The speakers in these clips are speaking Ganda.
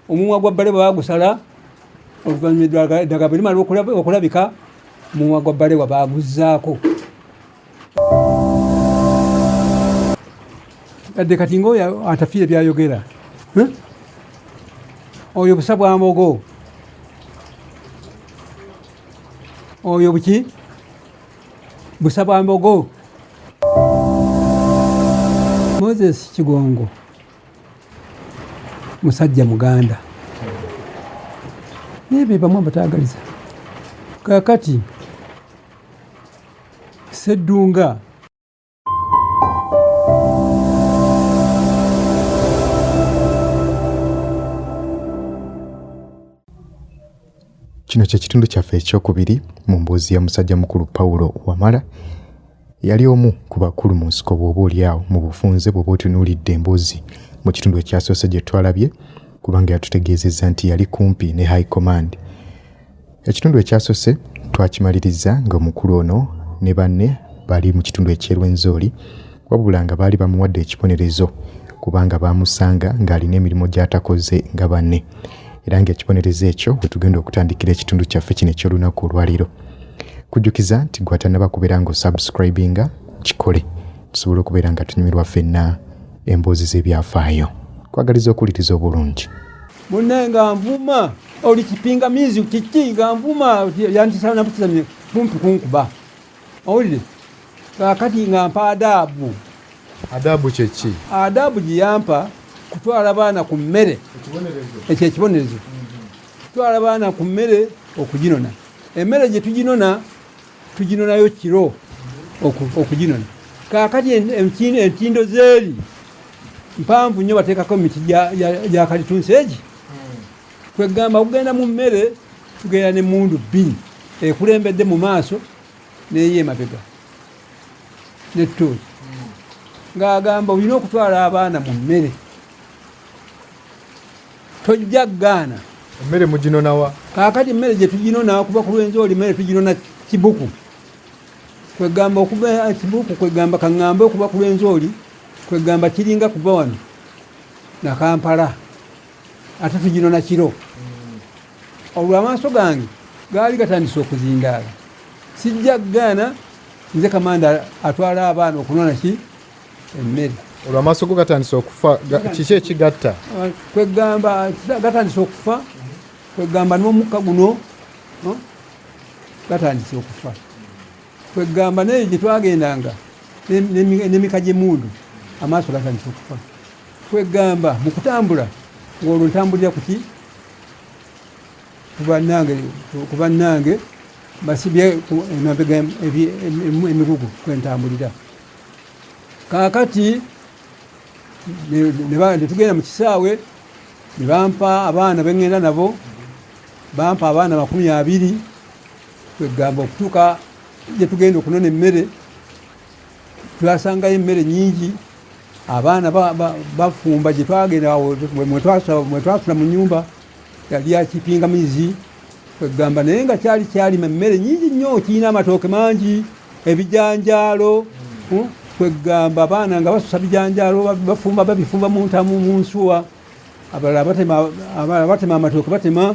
omumwa gwa bbale bagusala oluvannyuma eddagala bwe limala okulabika omumwa gwa bbale wa baguzzaako adde kati ngaoyo atafiire byayogera hm? oyo busa bwa mbogo oyo buki busa bwa mbogo moses kigongo musajja muganda naye bebamu abatagaliza kakati seddunga Kino kye kitundu kyaffe ekyokubiri mu mbuuzi ya musajja mukulu Pawulo Wamala. Yali omu ku bakulu mu nsiko bw'oba olyawo mu bufunze bw'oba otunuulidde emboozi mu kitundu ekyasoose gye twalabye kubanga yatutegeezezza nti yali kumpi ne High Command. Ekitundu ekyasose twakimaliriza ng'omukulu ono ne banne bali mu kitundu eky'e Rwenzori wabula nga baali bamuwadde ekibonerezo kubanga baamusanga ng'alina emirimu gy'atakoze nga banne era ng'ekibonerezo ekyo we tugenda okutandikira ekitundu kyaffe kino eky'olunaku olwaleero kujjukiza nti gwatanaba kubeera nga osubscribinga kikole tusobola okubeera nga tunyumirwa ffenna emboozi z'ebyafaayo kwagaliza okuwuliriza obulungi munne nga nvuma oli kipingamizi kiki nga nvuma yantisana nakukizamye kumpi kunkuba owulire kakati nga mpa adaabu adaabu kyeki adaabu gyeyampa kutwala baana ku mmere ekyo ekibonerezo kutwala baana ku mmere okuginona emmere gye tuginona tuginonayo kiro okuginona kakati entindo zeeri mpanvu nnyo bateekako emiti gya kalitunsi egi Kwegamba okugenda mu mmere tugenda ne mundu bbiri ekulembedde mu maaso neyo emabega ne tooki ng'agamba olina okutwala abaana mu mmere tojja gaana emmere muginonawa kaakati emmere gye tuginona kuba ku lwenzi oli mmere tuginona kibuku kwegamba okuba eh, kibuku kwegamba kaŋŋambe okuba ku lwenzi oli kwegamba kiringa kuva wano nakampala ate tugino nakiro olwo amaaso gange gaali gatandise okuzindaala sijja kugaana nze kamanda atwala abaana okunona ki emmere olwo amaaso go gatandise okufa kiki ekigatta ah, kwegamba gatandise okufa kwegamba n'omukka guno gatandise okufa kwegamba naye gyetwagendanga nemika gyemundu amaaso gatandise okufa kwegamba mu kutambula ng'olwo ntambulira kuki kubanange kubanange basibye emabega emigugu kwentambulira kakati netugenda mu kisaawe ne bampa abaana beŋŋenda nabo bampa abaana makumi abiri kwegamba okutuuka gye tugenda okunona emmere twasangayo emmere nyingi abaana bafumba gyetwagenda mwetwasula mu nyumba yali yakipinga mizi kwegamba naye nga kyali kyalima emmere nyingi nnyo kirina amatooke mangi ebijanjaalo hmm? kwegamba abaana nga basusa bijanjaalo bafumba babifumba muntamu munsuwa abalala batema amatooke batema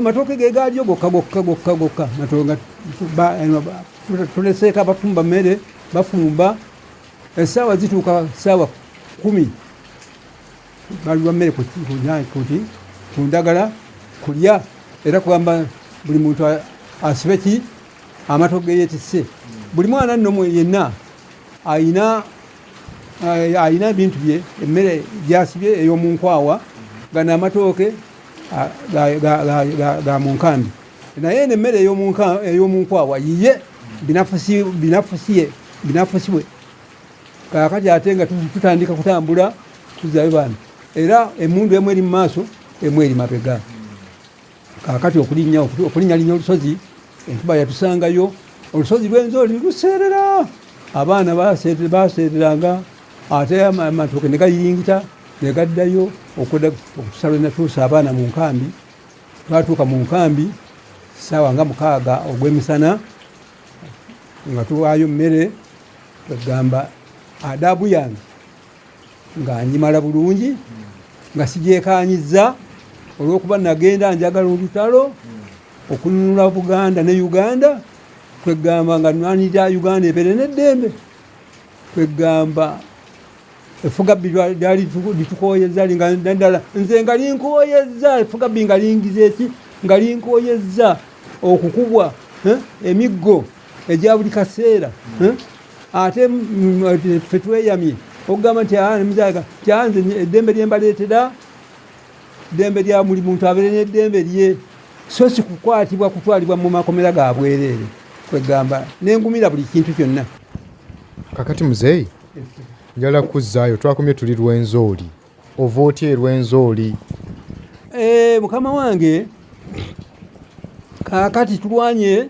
matooke ge gaalyo gokka gokka gokka gokka matonga tuleseeko abafumba mmere bafumba essaawa zituuka ssaawa kumi baliwa mmere kuti ku ndagala kulya era kugamba buli muntu asibe ki amatoke yetisse buli mwana nno yenna alina eh, alina ebintu bye emmere gyasibye ey'omunkwawa gano amatooke ga mu nkambi naye eno emmere ey'omunkwawa yiye binafusiye binafusibwe kakati ate nga tutandika kutambula tuzayo bana era emundu emu eri mu maaso emu eri mabega Kaakati okulinnya okulinnyalinnya olusozi, enkuba yatusangayo, olusozi lw'Enzoli luseerera, abaana baaseereranga ate amatooke ne gayingita ne gaddayo okutusala we natuusa abaana mu nkambi. Twatuuka mu nkambi ssaawa nga mukaaga ogw'emisana nga tuwaayo mmere, kwegamba adaabu yange nga njimala bulungi nga sigyekaanyiza olw'okuba nagenda njagala olutalo okununula buganda ne uganda kwegamba nga nwanirira uganda ebeere n'eddembe kwegamba efugabbi lyali litukooyezza naddala nze nga linkooyezza efugabbi nga lingiza eki nga linkooyezza okukubwa eh, emiggo egya buli kaseera eh. ate ffe tweyamye okugamba nti ah, muzaga kyanze eddembe lye mbaleetera ddembe lya buli muntu abeere n'eddembe lye so si kukwatibwa kutwalibwa mu makomera ga bwereere kwegamba nengumira buli kintu kyonna kakati muzeeyi njala kuzzaayo twakomye tuli lwenzooli ova otya erwenzooli eh, mukama wange kakati tulwanye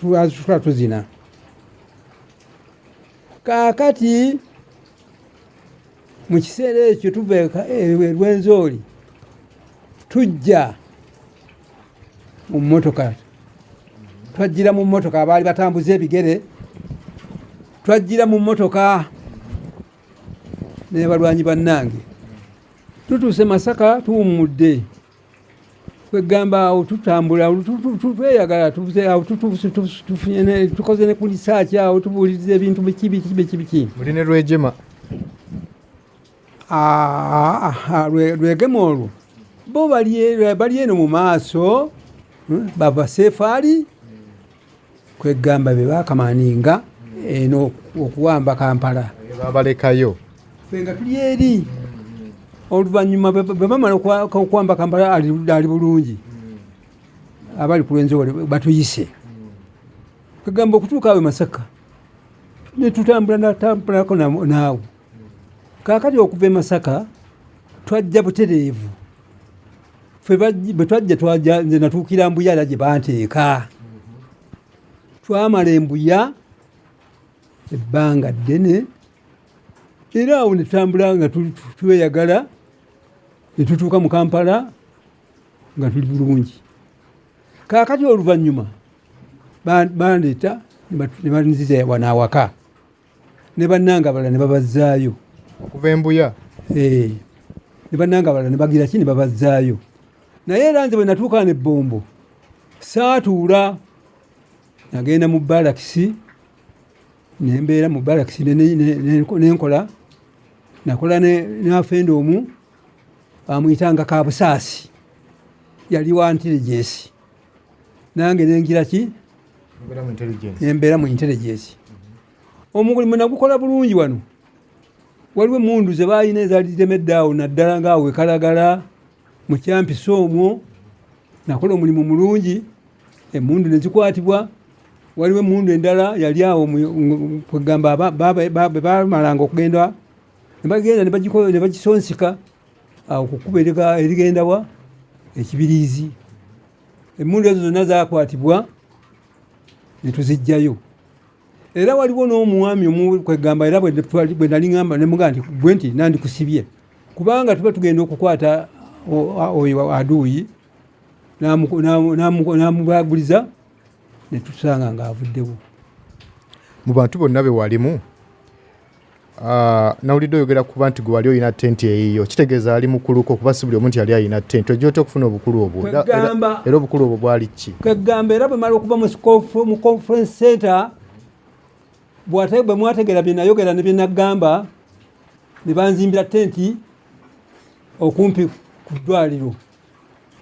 twazitula tuzina kakati mu kiseera ekyo tuva erwenzooli e, tujja mu mmotoka twajjira mu mmotoka abaali batambuza ebigere twajjira mu mmotoka naye balwanyi bannange tutuuse masaka tuwummudde kwegamba awo tutambula tweyagala tukoze ne ku lisaaki awo tubuuliriza ebintu biki biki biki biki muli ne lwejema lwegema olwo bo bali eno mu maaso hmm, bava sefaali kwegamba be bakamaninga eno okuwamba kampala babalekayo fenga tuli eri oluvannyuma bwebamala okuwamba kampala ali bulungi abali kulwenzewole batuyise kagamba okutuuka awe masaka netutambula natambulako naawe kakati okuva e masaka twajja butereevu ffe bwe twajja twaja nze natuukira mbuya era gye banteeka twamala embuya ebbanga ddene era awo netutambula nga tweyagala netutuuka mu kampala nga tuli bulungi kakati oluvannyuma bandeeta nebanziza wanaawaka ne bannanga abalala ne babazzaayo okuva embuya eh, ne bannanga abalala ne bagira ki ne babazzaayo naye era nze bwe natuuka ne bbombo saatuula nagenda mu balakisi nembeera mu balakisi nenkola nakola nafenda omu bamuyitanga kabusaasi yali wa ntiligesi nange nengira ki nembeera mu intelligence omulimu nagukola bulungi wano waliwo emundu zebalina ezali zitemedde awo naddala nga awo ekalagala mu kyampisa omwo nakola omulimu mulungi emundu nezikwatibwa waliwo emundu endala yali awo kwegamba bebamalanga okugenda nebagenda nebagisonsika awo ku kkubo erigenda wa ekibiriizi emmundu ezo zonna zakwatibwa ne tuziggyayo era waliwo n'omwami omukwegamba era bwe nali ŋamba ne muga nti gwe nti nandikusibye kubanga tuba tugenda okukwata oyo aduuyi n'amubaguliza ne tutusanga ng'avuddewo mu bantu bonna be walimu Ah, nawulidde oyogera kuba nti gwe wali olina tenti eyiyo kitegeeza ali mukuluko kuba si buli omu nti yali alina tenti ojja otya okufuna obukulu obwo era obukulu obwo bwali ki kwegamba era bwemala okuva mu conference center bwe mwategera byenayogera ne byenagamba ne banzimbira tenti okumpi ku ddwaliro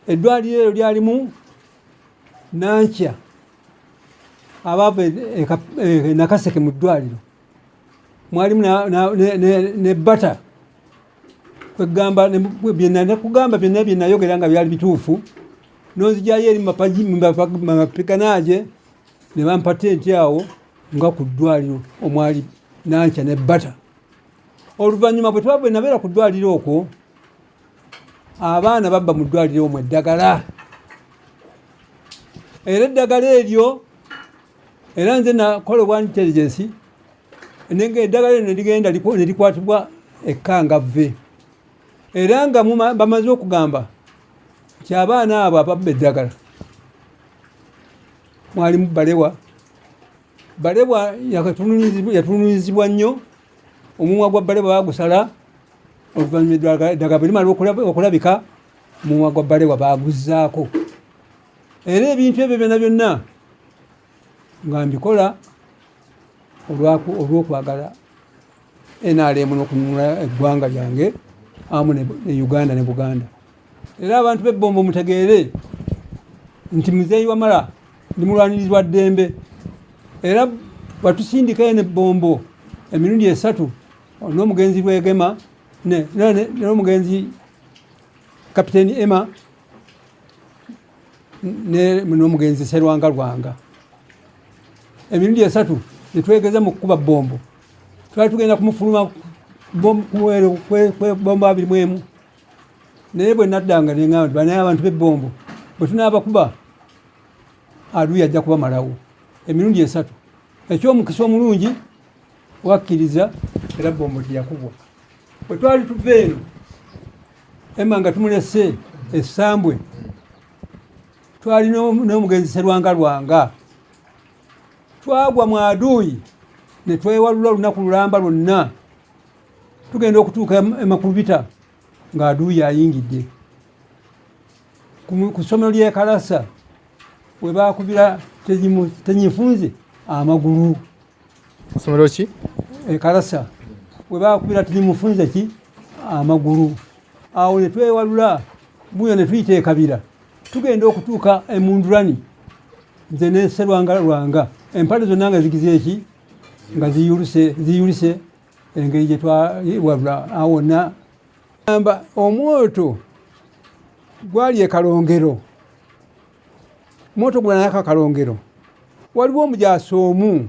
eddwaliro eryo lyalimu nankya abaava e, e, e, nakaseke mu ddwaliro mwalimu ne bata kwegamba byenakugamba byonna byenayogera nga byali bituufu nonzijayo eri mapapikanaje ne bampa tenti awo nga ku ddwaliro omwali nankya ne bata oluvannyuma bwe twabwe nabeera ku ddwaliro okwo abaana babba mu ddwaliro omwo eddagala era eddagala eryo era nze nakola obwa intelligence nenge eddagala lino ligenda ne likwatibwa ekkangavve era nga bamaze okugamba nti abaana abo ababba eddagala mwalimu balewa balewa yatununyizibwa nnyo omumwa gwa balewa bagusala oluvannyuma eddagala bwe limala okulabika omumwa gwa balewa baguzaako era ebintu ebyo byona byonna nga mbikola olwokwagala nrm nokununula eggwanga lyange amu ne uganda ne buganda era abantu bebombo mutegeere nti muzeeyi wamala ndi mulwanirizi wa ddembe era batusindikayo ne bombo emirundi esatu n'omugenzi lwegema n'omugenzi kapiteeni emma n'omugenzi Serwanga Lwanga emirundi esatu netwegeza mu kukuba bombo twali tugenda kumufuluma bombo abiri mwemu naye bwe naddanga nengamba nti banaye abantu bebombo bwe tunaabakuba aduyi ajja kubamalawo emirundi esatu ekyomukisa omulungi wakkiriza era bombo teyakubwa bwe twali tuva eno ema nga tumulese esambwe twali n'omugenzi serwanga lwanga twagwa mu aduuyi ne twewalula olunaku lulamba lwonna tugenda okutuuka emakulubita nga aduuyi ayingidde ku ssomero ly'ekalasa we baakubira tenyifunze amagulu Somero ki? E Karasa. We ba kubira tuli mufunze ki amagulu. Awo ne twewalula buyo ne tuyita ekabira. Tugenda okutuuka emundurani. Nze ne serwanga rwanga. Empale zonna nga zigize eki nga ziyulise ziyulise engeri gye twawalula awo na amba omwoto gwali ekalongero moto gwanayaka akalongero waliwo omujaasi omu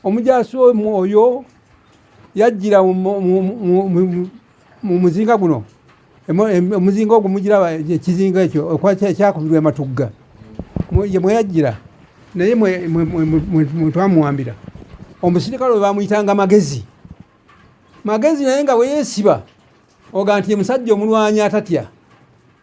omujaasi omu oyo yajjira mu muzinga guno omuzinga ogwo mugira ekizinga ekyo ekyakubirwa ematugga mweyajjira naye mwetwamuwambira omusirikale oyo bamuyitanga magezi magezi naye nga weyesiba oga nti musajja omulwanyi atatya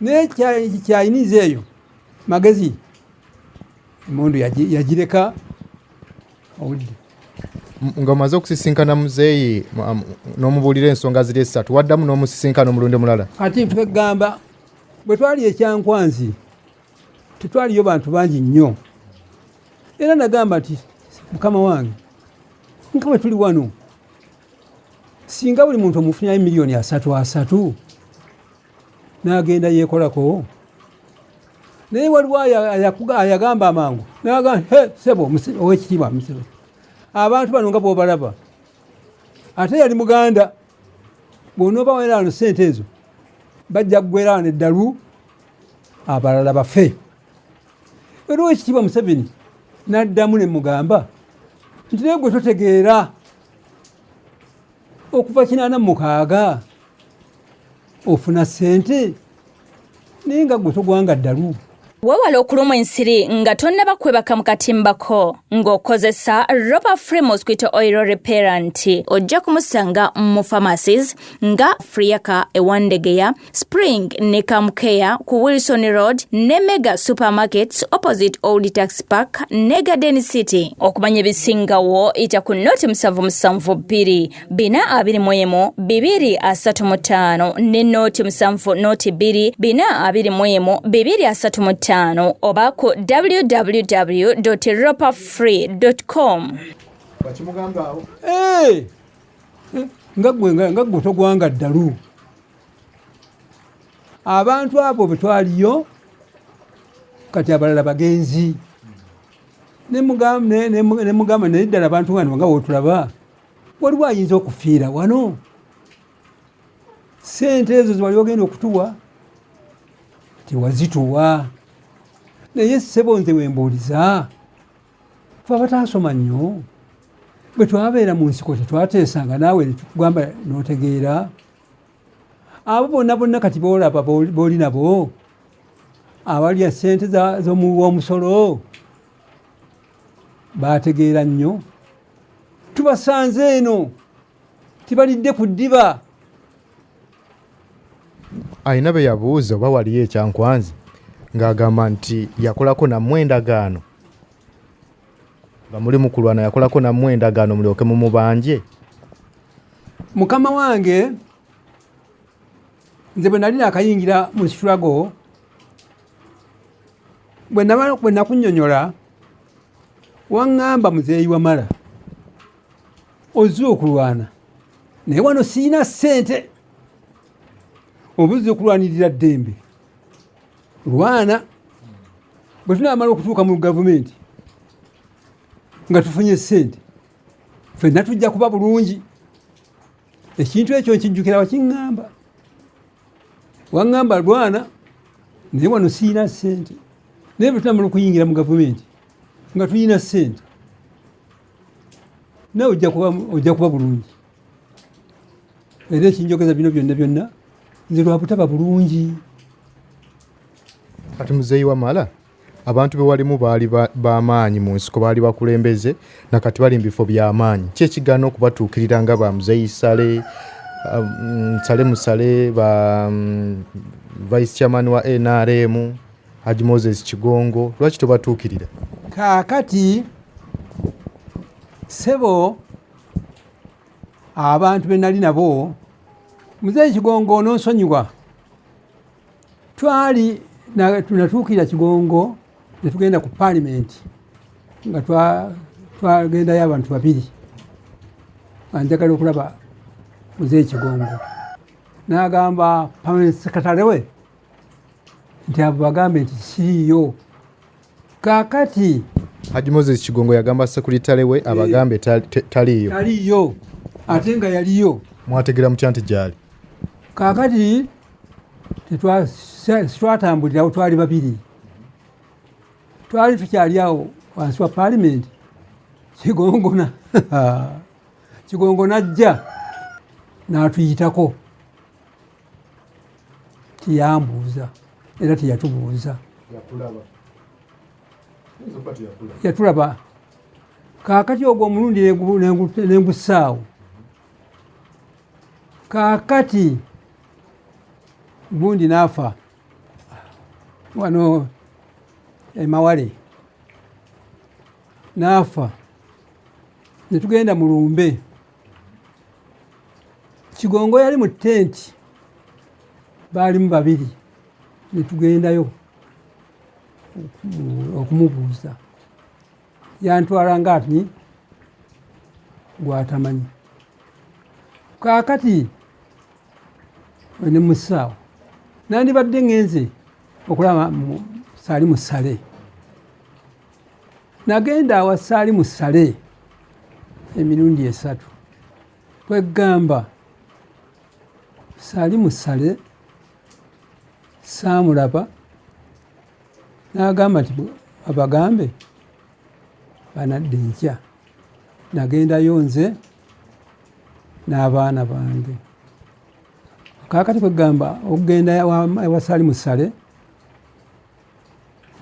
naye kyayiniza eyo magezi emundu yagireka obudde nga omaze okusisinkana muzeeyi n'omubuulira ensonga ziri essatu waddamu n'omusisinkana omulundi mulala ati ntugamba bwe twali ekyankwanzi tetwaliyo bantu bangi nnyo era nagamba nti mukama wange nga bwe tuli wano singa buli muntu omufunyayo miliyoni asatu asatu n'agenda yeekolako naye waliwo ayagamba amangu naga sebo owekitiibwa musebe abantu bano nga bwobalaba ate yali muganda bwonooba weraano sente ezo bajja kugweraano eddalu abalala bafe era owekitiibwa museveni naddamu ne mugamba nti naye gwe totegeera okuva kinaana mukaaga ofuna sente naye nga gwe togwanga ddalu wewala okulumwa ensiri nga tonnaba kwebaka mu katimbako ng'okozesa roba free mosquito oil repair nti ojja kumusanga mu pharmacies nga friaka ewandegeya Spring ne Camcare ku Wilson Road ne Mega Supermarkets opposite Old Tax Park ne Garden City. Okumanya ebisingawo ita ku noti musanvu musanvu bbiri bina abiri mu emu bibiri asatu mu ttaano ne noti musanvu noti bbiri bina abiri mu emu bibiri asatu mu ttaano oba ku www.roperfree.com. Hey! Nga gwe nga gwe togwanga ddalu. abantu abo betwaliyo kati abalala bagenzi nemugamba naye ddala abantu bano nga wotulaba waliwo ayinza okufiira wano sente ezo zewali ogenda okutuwa tewazituwa naye sebo nze wembuuliza fe abataasoma nnyo bwe twabeera mu nsiko tetwateesanga naawe netugamba notegeera abo bonna bonna kati boolaba booli nabo abalya sente z'omusolo baategeera nnyo tubasanze eno tibalidde ku ddiba alina be yabuuza oba waliyo ekyankwanzi ng'agamba nti yakolako nammwe endagaano nga muli mukulwana yakolako nammwe endagaano mulyoke mumubanje mukama wange nze bwe nali nakayingira mu struggle bwe nakunyonyola waŋŋamba muzeeyi wamala ozze okulwana naye wano sirina ssente oba ozze okulwanirira ddembe lwana bwe tunaamala okutuuka mu gavumenti nga tufunye sente fenna tujja kuba bulungi ekintu ekyo nkijjukira wakiŋŋamba waŋŋamba lwana naye wano siyina sente naye bwe tunamala okuyingira mu gavumenti nga tulina sente nawe ojja kuba bulungi era ekinjogeza bino byonna byonna nze lwabutaba bulungi kati muzeeyi wamala abantu bewalimu baali bamaanyi mu nsiko baali bakulembeze nakati bali mu bifo byamaanyi ki ekigaana okubatuukirira nga ba muzeeyi sale um, sale musale ba um, vice chairman wa nrm haji moses kigongo lwaki tobatuukirira kaakati sebo abantu be nali nabo muzeeyi kigongo ononsonyiwa twali tunatuukira kigongo ne tugenda ku paalimenti nga twagendayo abantu babiri anjagala okulaba muzeeyi kigongo n'agamba paalimenti sekatale we nti abo bagambe nti kiriiyo kakati Haji Moses Kigongo yagamba sekuritale we abagambe taliyo taliyo ate nga yaliyo mwategera mutya nti gyali kakati tetwatambulirawo twali babiri twali tukyali awo wansi wa palimenti kigongona kigongona ajja n'atuyitako tiyambuuza era teyatubuuza yatulaba kakati ogwo omulundi nengusaawo kakati gundi nafa wano emawale nafa netugenda mulumbe kigongo yali mu tenti baalimu babiri netugendayo okumubuuza yantwala nga ati gwatamanyi kakati ne musaawo nandibadde ngenze okulaba sali musale nagenda awasaali mu sale emirundi esatu kwegamba saali mu sale saamulaba n'agamba nti abagambe banadde nkya nagendayo nze n'abaana bange kakati kwegamba okugenda ewasaali mu sale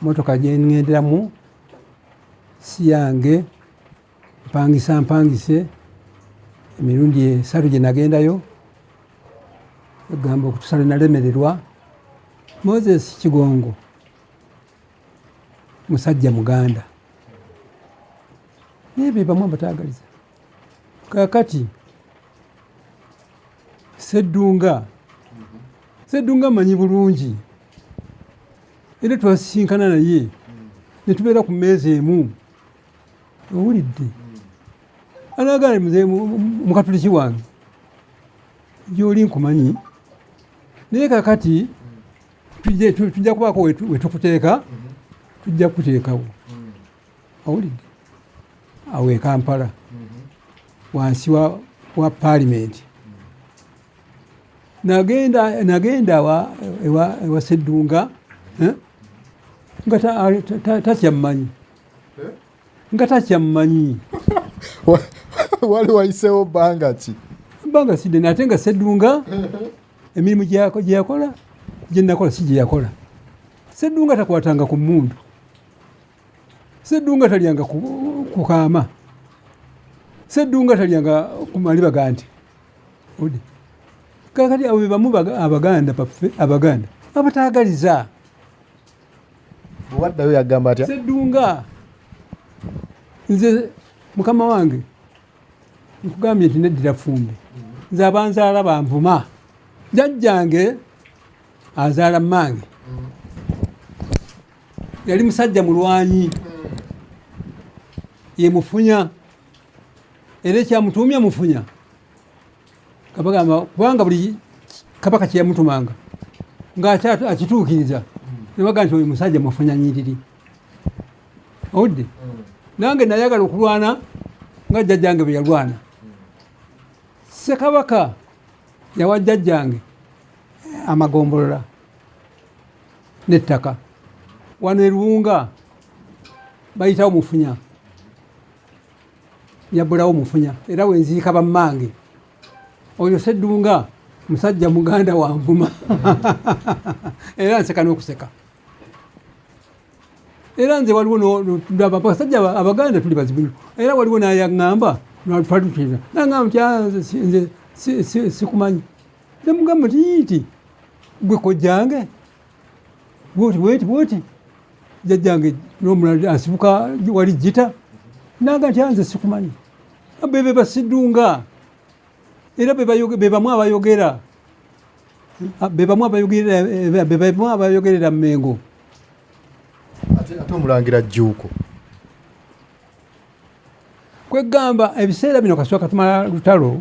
motoka gyengenderamu si yange mpangisa mpangise emirundi esatu gye nagendayo egamba okutusale nalemererwa moses kigongo musajja muganda naye bebamu abatagaliza kakati seddunga seddunga manyi bulungi era twasisinkana naye ne tubeera ku mmeeza emu owulidde anagala mzee mukatuliki wange gyoli nkumanyi naye kakati tujja kubaako wetukuteeka tujja kukuteekawo owulidde awo ekampala mm-hmm. wansi wa, wa palimenti nagenda nagenda ewa seddunga eh? nga takyamumanyi eh? nga takyamumanyi wali wayisewo banga ki banga sidde nate nga seddunga emirimu gyeyakola gyenakola si gyeyakola seddunga takwatanga ku mundu seddunga talyanga kukaama seddunga talyanga kumali bagandi odi kakati abo bebamu abaganda baffe abaganda abatagaliza waddayo yagamba atya seddunga nze mukama wange nkugambye nti neddira fumbi nze abanzaala banvuma jajjange azaala mmange yali musajja mulwanyi ye mufunya era ekyamutuumya mufunya kabagamba kubanga buli kabaka kyeyamutumanga ngaakituukiriza nebaga nti oyo musajja mufunya nyiriri owudde nange nayagala okulwana nga jjajjange bwe yalwana sekabaka yawa jjajjange amagombolola nettaka wano eruwunga bayitawo mufunya yabulawo mufunya era wenziika bammange oyo seddunga musajja muganda wanvuma era nseka n'okuseka era nze waliwo abasajja abaganda tuli bazibu era waliwo nayaŋamba twalituteeza nagamba nti ah, nze sikumanyi nemugamba nti yiti gwe kojjange bwoti bweti bwoti jajjange nomulala asibuka wali jita naga nti anze sikumanyi bebe basidunga era bebamu abayogera bebamu abayogerera mumengo ate omulangira jjuuko kwegamba ebiseera bino kasooka tumala lutalo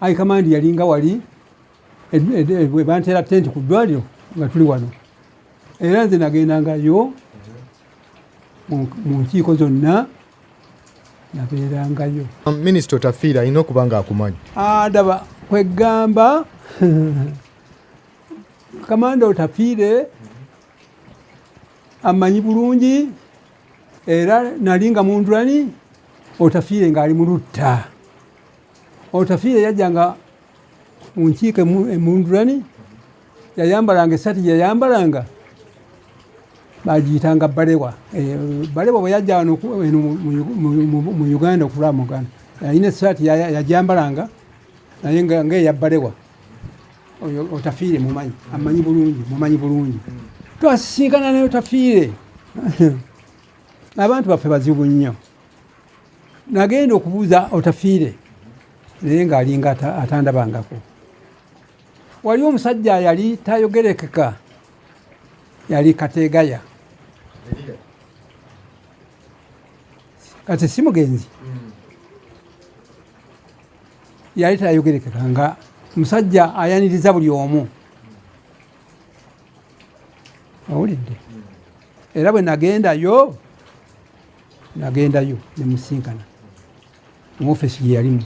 ayi kamandi yalinga wali bantera tenti ku ddwaliro nga tuli wano era nze nagendangayo mu nkiiko zonna nabeerangayo um, minisita otafiira alina okuba nga akumanyi adaba ah, kwegamba kamanda otafiire amanyi bulungi era nali nga mundulani otafiire ng'ali mu lutta otafiire yajjanga mu nkiiko emundulani yayambalanga esaati yayambalanga bagiyitanga balewa eh, balewa bwe yajja wano mu uganda okulaba mu uganda yalina esaati yajambalanga naye nga nga eyabbalewa oyo otafiire mumanyi amanyi bulungi mumanyi bulungi twasisinkana naye otafiire abantu baffe bazibu nnyo nagenda okubuuza otafiire naye ng'alinga atandabangako wali omusajja yali tayogerekeka yali kategaya kati si mugenzi mm. yali tayogerekeka nga musajja ayaniriza buli omu awulidde era bwe nagendayo nagendayo nemusinkana mu ofesi gye yalimu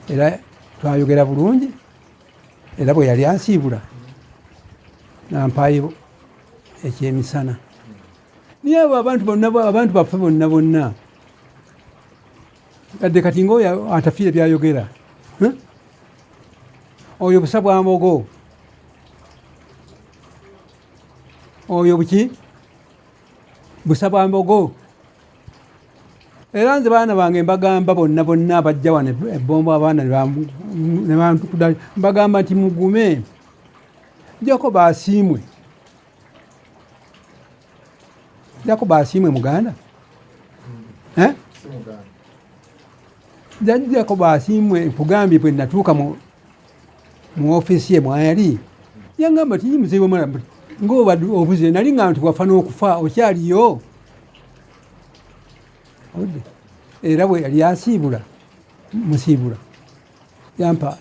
era twayogera bulungi era bwe yali ansiibula nampaayo ekyemisana naye abo abantu bonna abantu baffe bonna bonna adde kati ngaoyo atafiire byayogera oyo busa bwa mbogo oyo buki busa bwa mbogo era nze baana bange mbagamba bonna bonna abajja wano ebombo abaana nebantukuda mbagamba nti mugume jako basiimwe jakuba asiimwe muganda hmm. eh? jajjako basiimwe nkugambye bwe natuuka mu ofisi ye mwayali yangamba ti mzee wamala mbuti ngoba obuze nali nga nti wafa n'okufa okyaliyo era bwe yali asiibula musiibula yampa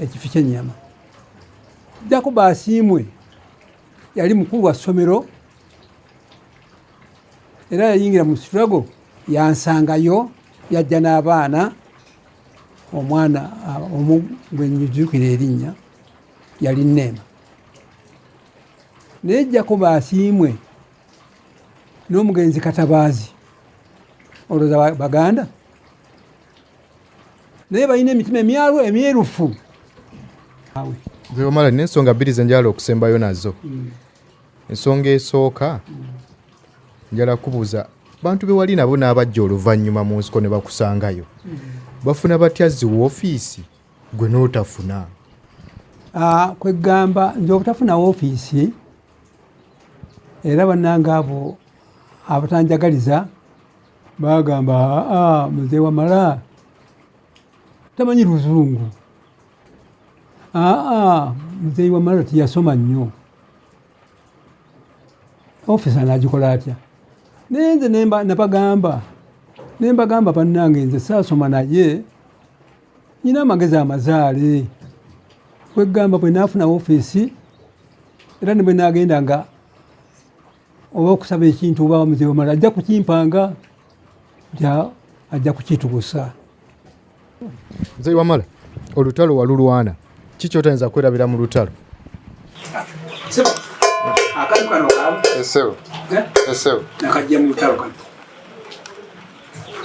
ekifi kyenyama jako basiimwe yali mukulu wa ssomero era yayingira mu siturago yansangayo yajja n'abaana omwana omu gwenyujukira erinnya yali neema naye jako basiimwe n'omugenzi katabaazi olwoza baganda naye balina emitima emyalu emyerufu omala nina ensonga bbiri zenjala okusembayo nazo mm. ensonga esooka mm. njala kubuuza bantu bewali nabo n'abajja oluvannyuma mu nsiko ne bakusangayo mm. bafuna batya ziwa ofiisi gwe n'otafuna ah, kwegamba nze obutafuna wofiisi era banange abo abatanjagaliza Baagamba aa mzee Wamala tamanyi luzungu, aa mzee Wamala tiyasoma nnyo, ofisa anagikola atya? Naye nze nabagamba nembagamba bannange, nze saasoma naye nyina amagezi amazaale kwegamba bwe naafuna ofiisi era ne bwe naagenda nga oba okusaba ekintu oba mzee omala ajja kukimpanga ajja kukitugusa mzee wamala olutalo walulwana ki kyotayinza kwerabira mu lutalo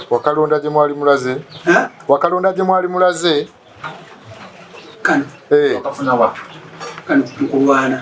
wakalonda gye mwali mulaze wakalonda gye mwali mulaze kano eh. wakafuna wa kano mukulwana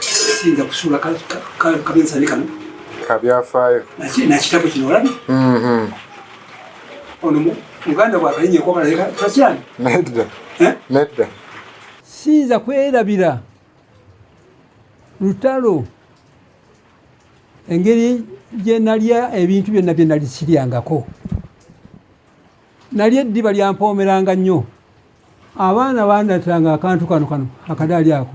siyinza kusuula kabinsani kano kabyafaayo nakitabo kino olabi mm-hmm. ono muganda bwakalinye kobalatasyani nedda eh? nedda siyinza kwerabira lutalo engeri gye nalya ebintu byonna bye nali siryangako nali eddiba lyampoomeranga nnyo abaana bandatanga akantu kano kano akadaali ako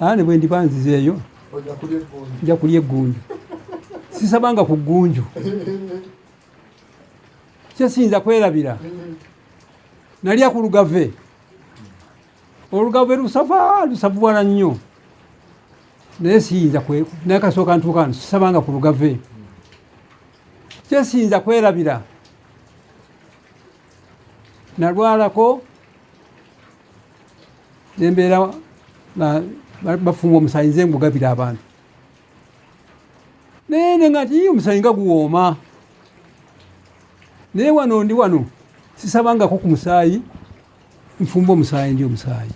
ane bwe ndiba nzizeeyo nja kulya eggunju sisabanga ku ggunju kyesiyinza kwerabira nalya ku lugave olugave lusava lusavuwala nnyo naye siyinza naye kasooka ntuukano sisabanga ku lugave kyesiyinza kwerabira nalwalako nembeera bafunga omusayi nze ngugabira abantu naye ne nga ti omusayi nga guwooma naye wano ndi wano sisabangako ku musaayi nfumba omusaayi ndi omusaayi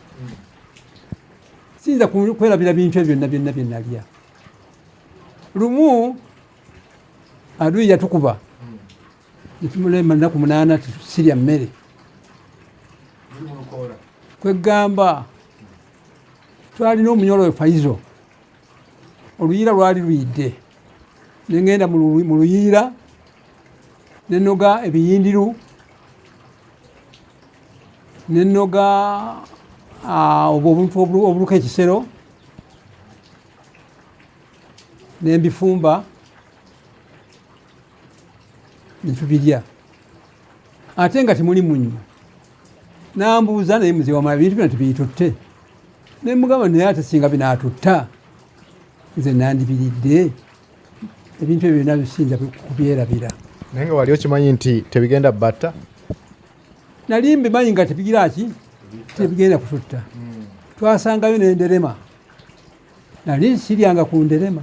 siyinza kwerabira bintu ebyo byonna byonna byenalya lumu aduyi yatukuba netumulema naku munana sirya mmere kwegamba twalina omunyolo we faizo oluyiira lwali luyidde nengenda mu luyiira nenoga ebiyindiru nenoga obwo obuntu obuluka ekisero nembifumba netubirya ate nga temuli munnyo nambuuza naye muzee wamala bintu bina tebitutte naye mugamba naye ate singa binatutta nze nandibiridde ebintu ebyo byona bisinza kubyerabira naye nga wali okimanyi nti tebigenda batta nali mbimanyi nga tebigira ki tebigenda kututta hmm. twasangayo nenderema nali siryanga ku nderema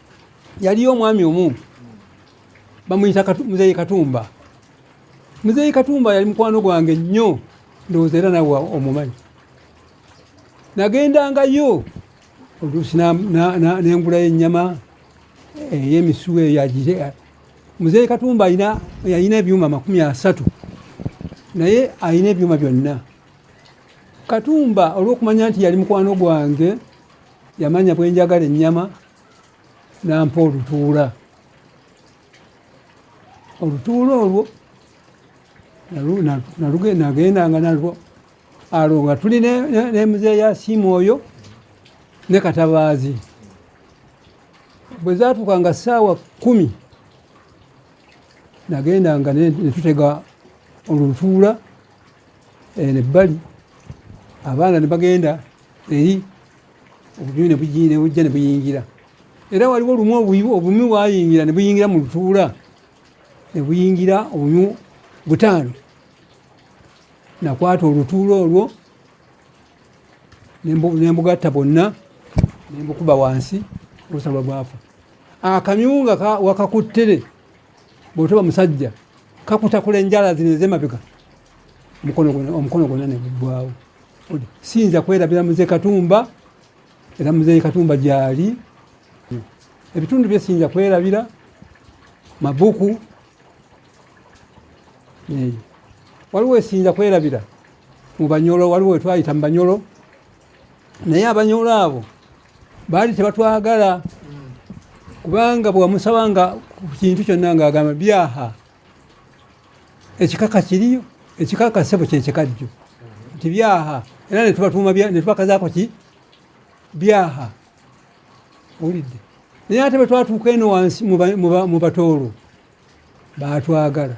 yaliyo omwami omu bamuyita muzeeyi katumba muzeeyi katumba yali mukwano gwange nnyo ndowooza era nawe omumanyi nagendangayo oluusi nengulayo ennyama eyemisuwa eh, eyagire eh, muzeeyi katumba yalina ebyuma makumi asatu naye alina ebyuma byonna katumba olwokumanya nti yali mukwano gwange yamanya bwe njagala ennyama nampa olutuula olutuula olwo nagendanga nalwo alwo nga tuli nemuzeeyi asiima oyo ne katabaazi bwe zatuuka nga ssaawa kumi nagendanga netutega olutuula eh, nebbali abaana ne bagenda eri obubi ne bujja ne buyingira era waliwo lumu obumi bwayingira ne buyingira mu lutuula ne buyingira obumi butaano nakwata olutuula olwo nembugatta bonna nembukuba wansi olusaba bwafa akamyunga wakakuttere bw'otoba musajja kakutakula enjala zino ez'emabega omukono gwonna ne guggwawo siyinza kwerabira muze katumba era muzeeyi katumba gyali ebitundu bye siyinza kwerabira mabuku waliwo esiyinza kwerabira mu banyolo waliwo wetwayita mu banyolo naye abanyolo abo baali tebatwagala kubanga bwewamusabanga ku kintu kyonna nga agamba byaha ekikaka kiriyo ekikaka sebo kyekikajjo nti byaha era netubatuuma netubakazaako ki byaha owulidde naye ate bwe twatuuka eno wansi mu batoolo baatwagala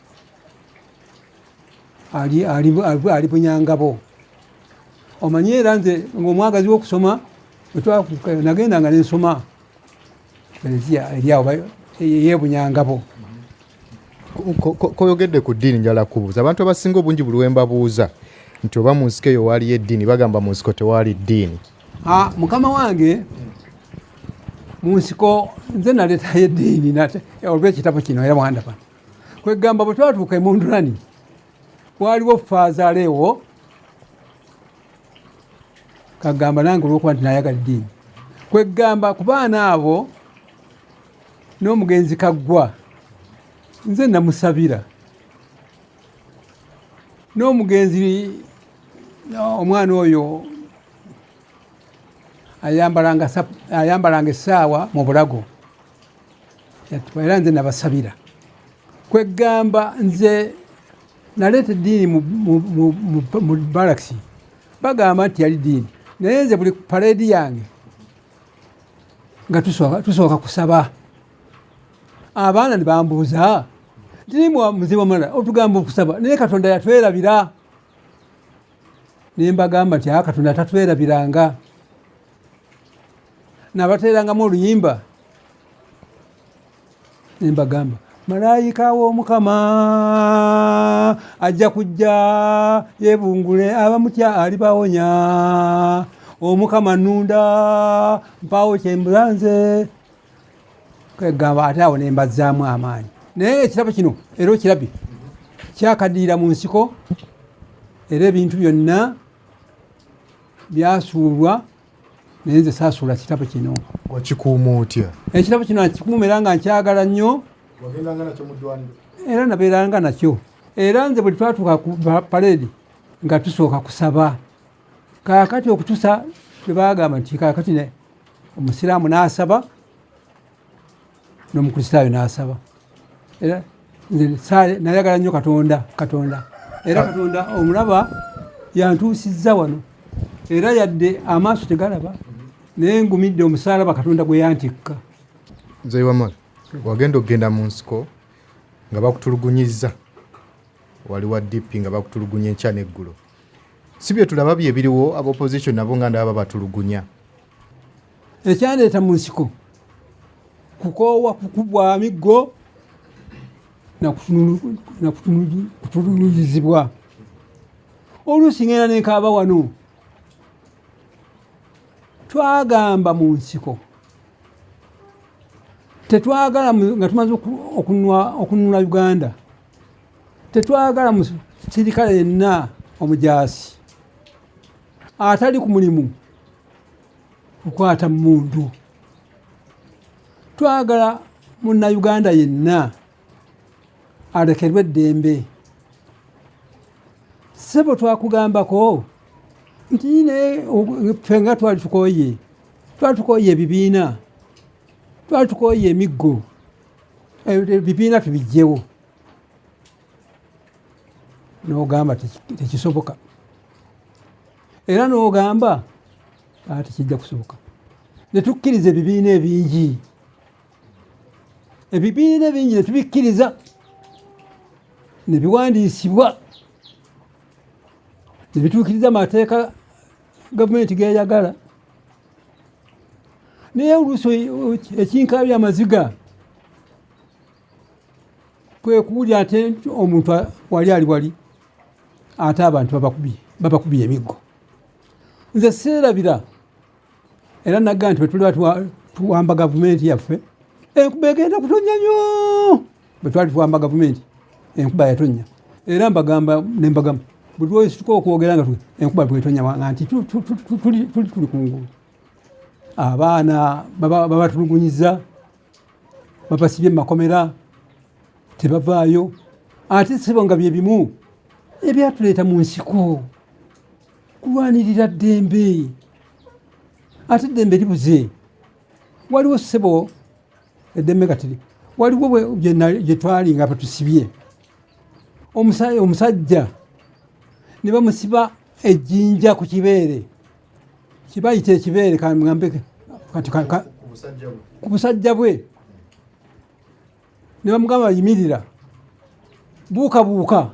ali ali ali bunyangabo omanyi era nze ngaomwagazi wokusoma nagenda nga nensoma ereziya eryawo yebunyangabo koyogedde ku ddiini njala kubuuza abantu abasinga obungi buli wembabuuza nti oba mu nsiko eyo waaliyo eddiini bagamba mu nsiko tewaali ddiini ah, mukama wange mu nsiko nze naletayo eddiini olwekitabo kino era wandaba kwegamba bwe twatuuka e mundulani waliwo faazaala ewo kagamba nange olwokuba nti nayagala eddiini kwegamba ku baana abo n'omugenzi kaggwa nze namusabira n'omugenzi omwana oyo ayambalanga essaawa mu bulago era nze nabasabira kweggamba nze naleeta eddiini mu balakisi bagamba nti yali diini naye nze buli paredi yange nga tusooka kusaba abaana nebambuuza tirimu muzibu omulala otugamba okusaba naye katonda yatwerabira nembagamba nti a ah, katonda tatwerabiranga nabateerangamu oluyimba nembagamba malayika w'omukama ajja kujja yebungule abamutya alibawonya omukama nunda mpawo kyembulanze kwegamba ate awo nembazzaamu amaanyi naye ekirabo kino era okirabye kyakaddiira mu nsiko era ebintu byonna byasuulwa naye nze saasuula kitabo kino wakikuuma otya ekitabo kino akikuuma era nga nkyagala nnyo era nabeeranga nakyo era nze buli twatuuka ku paredi nga tusooka kusaba kakati okutusa twebagamba nti kakati omusiraamu n'asaba n'omukristaayo n'asaba era nze saale nayagala nnyo katonda katonda era katonda omulaba yantuusizza wano era yadde amaaso tegalaba naye ngumidde omusaalaba katonda gwe yantikka nze wamala wagenda okugenda mu nsiko nga bakutulugunyizza wali wa dp nga bakutulugunya enkya n'eggulo si bye tulaba bye biriwo aba opposition nabo nga ndaba babatulugunya ekyandeeta mu nsiko kukoowa kukubwa miggo nakutuluyizibwa oluusi ngenda nenkaaba wano twagamba mu nsiko tetwagala nga tumaze okununula uganda tetwagala musirikale yenna omujaasi atali ku mulimu kukwata mundu twagala munnayuganda yenna alekerwe eddembe sebo twakugambako nti ne ffe nga twali tukoye twali tukoye ebibiina twali tukoye emiggo ebibiina tubijjewo nogamba tekisoboka era n'ogamba ati ah, kijja kusoboka netukkiriza ebibiina ebingi ebibiina ebingi netubikkiriza nebiwandiisibwa nebituukiriza amateeka gavumenti geyagala naye oluusi ekinkaabya amaziga kwe kuwulira ate omuntu wali ali wali ate abantu babakubye emiggo nze seerabira era nagga nti bwetuliba tuwamba gavumenti yaffe enkuba egenda kutonya nyo bwetwali tuwamba gavumenti enkuba yatonya era mbagamba nembagamu buli lwesituka okwogera nga enkuba bwetonya nga nti tuli kungulu abaana babatulugunyiza babasibye mu makomera tebavaayo ate sibo nga bye bimu ebyatuleeta mu nsiko kulwanirira ddembe ate eddembe libuze waliwo ssebo eddembe kati waliwo gye twali nga batusibye omusajja ne bamusiba ejjinja ku kibeere kibayita ekibeere kangambe kati ku busajja bwe ne bamugamba yimirira buukabuuka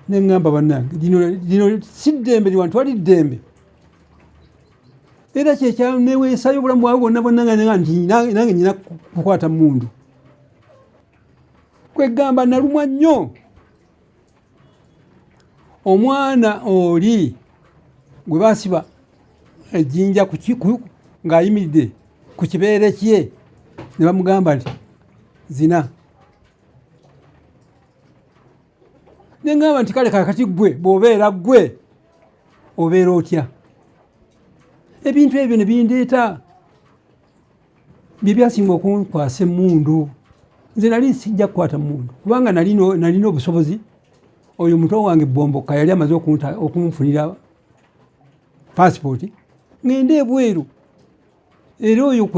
ne ŋŋamba bannange lino si ddembe liwantu wali ddembe era kyekyaneweesayo obulamu bwawe bwonna bwonna nga nange nina kukwata mundu kwegamba nalumwa nnyo omwana oli gwe basiba ejjinja ng'ayimiridde ku kibeere kye ne bamugamba nti zina nengamba nti kale kakati gwe bwobeera gwe obeera otya ebintu ebyo ne bindeeta bye byasinga okunkwasa emmundu nze nali sijja kukwata mundu kubanga nalina obusobozi oyo muto wange bomboka yali amaze okunfunira pasipooti ngende ebweru era oyo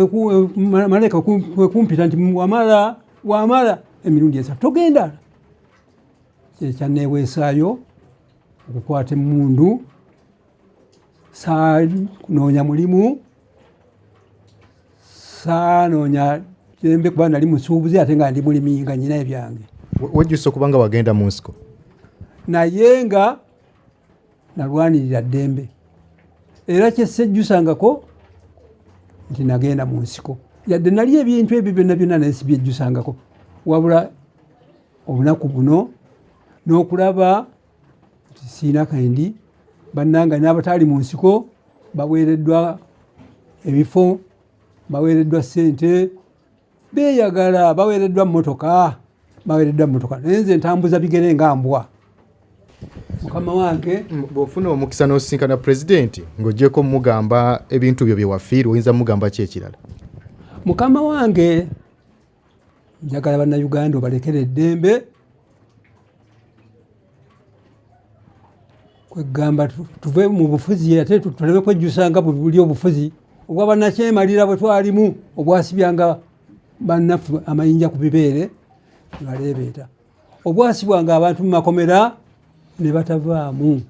malaika kwekumpita nti wamala wamala emirundi esatu togenda kyekyaneweesaayo okukwata emundu saanoonya mulimu saanoonya tembe kuba nali musuubuzi ate nga ndi mulimi nga nyina ebyange wejjusa okuba nga wagenda mu nsiko naye nga nalwanirira ddembe era kyesejjusangako nti nagenda mu nsiko yadde nali ebintu ebyo byonna byonna naye sibyejjusangako wabula obunaku buno n'okulaba siina kandi bannanga n'abataali mu nsiko baweereddwa ebifo baweereddwa ssente beeyagala baweereddwa mmotoka baweereddwa mmotoka naye nze ntambuza bigere nga mbwa mukama wange mm, bw'ofuna omukisa n'osisinkana pulezidenti ng'ogyeko mugamba ebintu byo bye wafiirwa oyinza mugamba ki ekirala mukama wange njagala bannayuganda obalekera eddembe kwegamba tuve mu bufuzi ate tuleme kwejjusa nga buli obufuzi obwa bannakyemalira bwe twalimu obwasibyanga bannaffe amayinja ku bibeere nebaleebeeta obwasibwanga abantu mu makomera ne batavaamu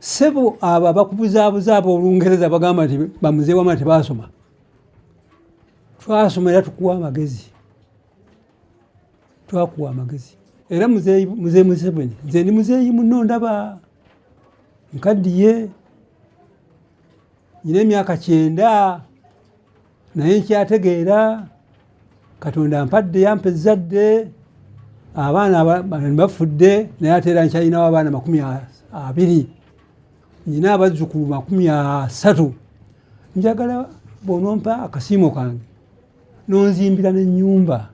sebo abo abakubuzaabuza abo olungereza bagamba nti bamuzeewama tebaasoma twasoma era tukuwa amagezi twakuwa amagezi era muzeeyi museveni nze ndi muzeeyi muno ndaba nkaddiye nyina emyaka kyenda naye nkyategeera katonda mpadde yampa ezzadde abaana bafudde naye ate era nkyalinawo abaana makumi abiri nyina abazzukulu makumi asatu njagala bonompa akasiimo kange nonzimbira nenyumba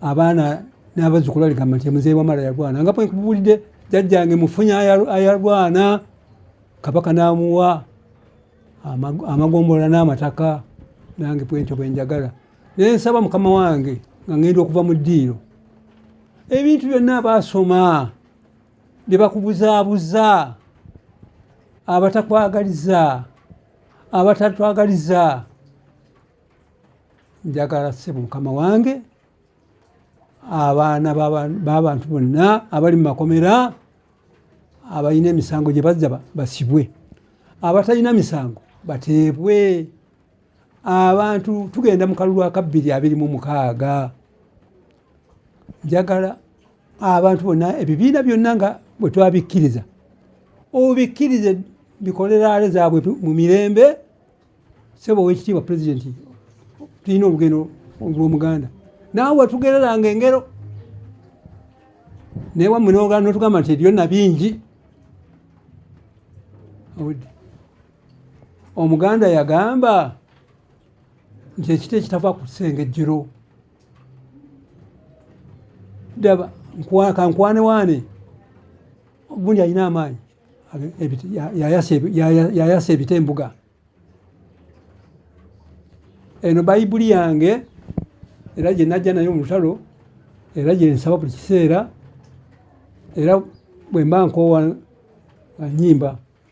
abaana n'abazzukulu aligamba nti muzeeyi wamala yalwana nga bwenkubulidde jajjange mufunya ayalwana kabaka n'amuwa amagombolola n'amataka nange bwentyo bwenjagala naye nsaba mukama wange nga ngenda okuva mu ddiiro ebintu byonna baasoma ne bakubuzaabuza abatakwagaliza abatatwagaliza njagala sebo mukama wange abaana babantu bonna abali mu makomera abalina emisango gye bazza basibwe abatalina misango bateebwe abantu tugenda mu kalulu akabbiri abiri mu mukaaga njagala abantu bonna ebibiina byonna nga bwe twabikkiriza obikkirize bikoleraale zaabwe mu mirembe sebo owekitiibwa pulezidenti tulina olugendo olwomuganda naawe watugereranga engero naye wamwe notugamba nti ebyonna bingi omuganda yagamba nti ekita ekitava ku kisenge jjiro daba kankwane waane gundi alina amaanyi yayasa ebita embuga eno bayibuli yange era gye najja nayo mu lutalo era gye nsaba buli kiseera era bwe mba nkoowa nyimba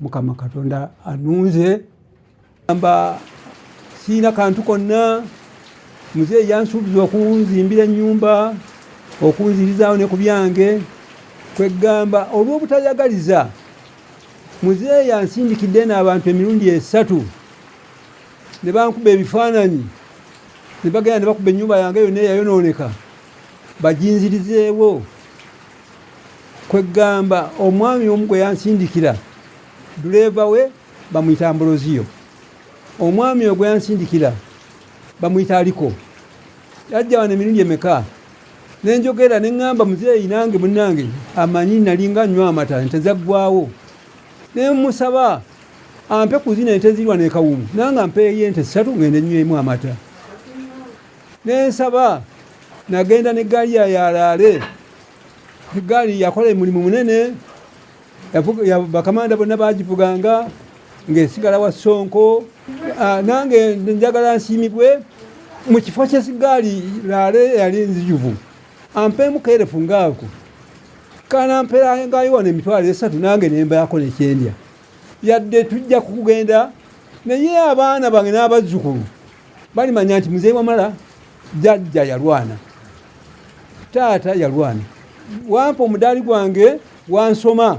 mukama katonda anunze amba siina kantu konna muzeeyi yansuubiza okunzimbira ennyumba okunzirizaawo ne ku byange kweggamba olw'obutayagaliza muzeeyi ansindikidde n'abantu emirundi esatu ne bankuba ebifaananyi ne bagenda ne bakuba ennyumba yange yonna eyayonooneka baginzirizeewo kweggamba omwami omu gwe yansindikira duleeva we bamuyita ambroziyo omwami ogwe yansindikira bamuyita aliko yajja wano emirundi emeka nenjogera neŋŋamba muzeeyi nange munnange amanyi nalinga nywa amata ente zaggwawo nemusaba ampe kuzina ente zirwa nekawumu nanga mpeeyo ente ssatu ngende nywemu amata nensaba nagenda ne gaali ya yalaale egaali yakola emulimu munene bakamanda bonna bagivuganga ngaesigala wa sonko ah, nange njagala nsiimibwe mu kifo kyesigaali laale yali nzijuvu ampeemu kerefu ngaako kana mperangayo wano emitwalo esatu nange nembaako nekyendya yadde tujja kukugenda naye abaana bange n'abazzukulu balimanya nti mzee wamala jajja yalwana taata yalwana wampa omudaali gwange wansoma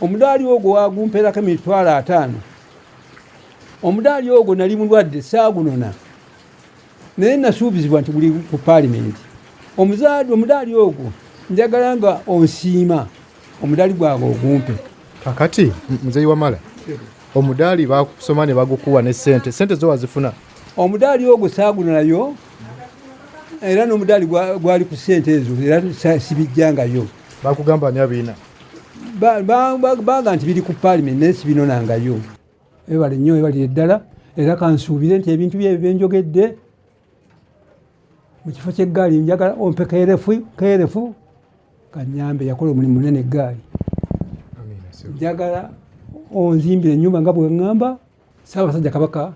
omudaali ogwo wagumperako emitwalo ataano omudaali ogwo nali mulwadde saagunona naye nasuubizibwa nti guli ku paalimenti omuzaadi omudaali ogwo njagala nga onsiima omudaali gwange ogumpe kakati muzeyi wamala omudaali bakusoma ne bagukuwa ne sente sente zo wazifuna omudaali ogwo saagunulayo era n'omudaali gwali ku sente ezo era sibijjangayo bakugamba ani abiina baga nti biri ku paalimenti naye sibinonangayo ebale nnyo ebalire ddala era kansuubire nti ebintu byebyo byenjogedde mu kifo ky'eggaali njagala ompe keerefu keerefu kanyambe yakola omulimu munene eggaali njagala onzimbira ennyumba nga bwe ŋŋamba ssaabasajja kabaka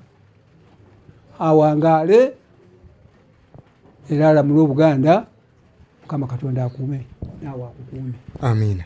awangaale era alamule obuganda mukama katonda akuume naawe akukuume amiina